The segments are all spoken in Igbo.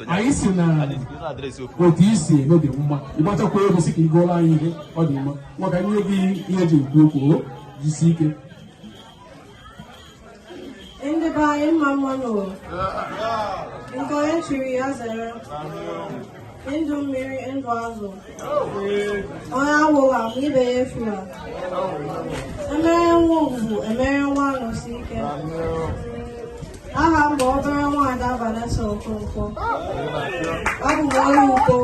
anyị si na otu i si eme dị mma ị gbachakwa egwu si ka ị gụọla anyị ihe ọ dị mma ngwa ka m nye gị ihe eji ekwu okwu o jisi ike ndị be anyị mma mma nụ nke onye chiri ya zere ndụ mmiri ndụ azụ onye anwụla ma ibe ya efula emere nwa Ogwugwu emere nwa Anọsike aha m bụ obere nwaada Vanessa Okonkwo abụ m onye Ukpo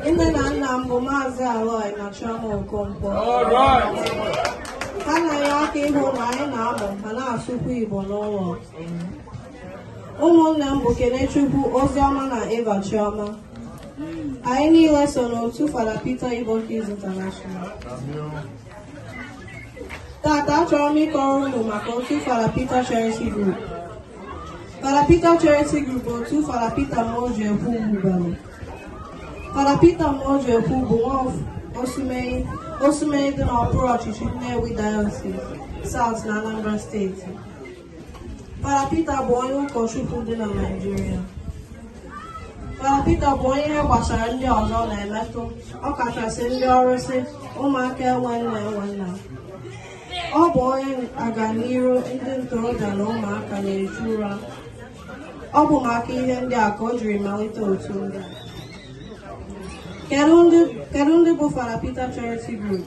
nne na nna m bụ maazị Aloy na Chioma Okonkwo ha na-enye aka ịhụ na anyị na-amụ ma na-asụkwu Igbo n'ụlọ ụmụnne m bụ Kenechukwu Oziọma na Eva Chioma Anyị niile so n'otu Fada Peter Igbo Kids International. Tata achọrọ m ịkọrọ unu maka otu Fada Peter Charity Group. Fada Peter Charity Group bụ otu Fada Peter Muojekwu wubere. Fada Peter Muojekwu bụ nwa Osumenyi Osumenyi dị n'okpuru ọchịchị Nnewi Diocese, South na Anambra Steeti. Fada Peter bụ onye ụkọchukwu dị na Naịjirịa. Fada Peter bụ onye ihe gbasara ndị ọzọ na-emetụ ọkachasị ndị ọrụsị ụmụaka enwe nne enwe nna. Ọ bụ onye aganiru ndị ntorobịa na ụmụaka na-echu ụra. Ọ bụ maka ihe ndị a ka o jiri malite otu ndị a. Kedu ndị bụ Fada Peter Charity Group?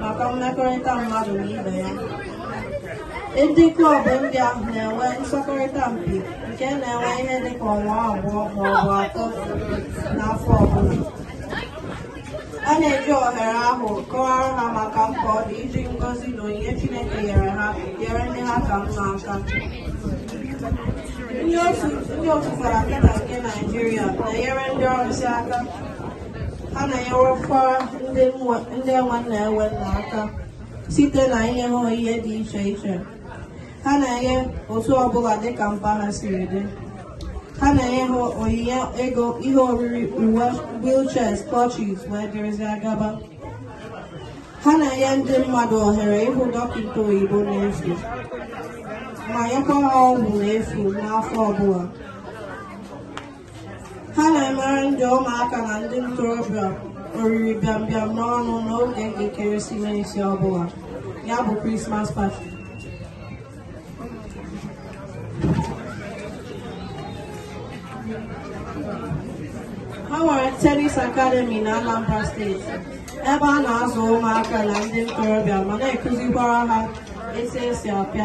maka mmekọrịta mmadụ na ibe ya ndị klọb ndị ahụ na-enwe nsọkọrịta mpi nke na-enwe ihe dịka ọnwa abụọ ma ọ bụ atọ n'afọ ọbụla a na-eji ohere ahụ kọwara ha maka mkpa ọ dị iji ngọzi na onyinye Chineke nyere ha nyere ndị ha ka mma aka ndị otu Fada Peter nke Naịjirịa na-enyere ndị ọrụsị aka ha na-enyerekwa ndị enwe nne enwe nna aka site na inye ha ihe dị iche iche ha na-enye otu ọbụla dịka mkpa ha siri dị ha na-enye ha onyinye ego ihe oriri uwe wheelchairs clutches wee dịrịzịa gaba ha na-enye ndị mmadụ ohere ịhụ dọkịta oyibo n'efu ma nyekwa ha ọgwụ n'efu n'afọ ọbụla ha na-emere ndị ụmụaka na ndị ntorobịa oriri bịambịam n'ọnụ n'oge nke ekeresimesi ọbụla ya bụ Christmas party ha nwere tennis academy na anambra steeti ebe a na-azụ ụmụaka na ndị ntorobịa ma na-ekụzikwara ha etu esi apịa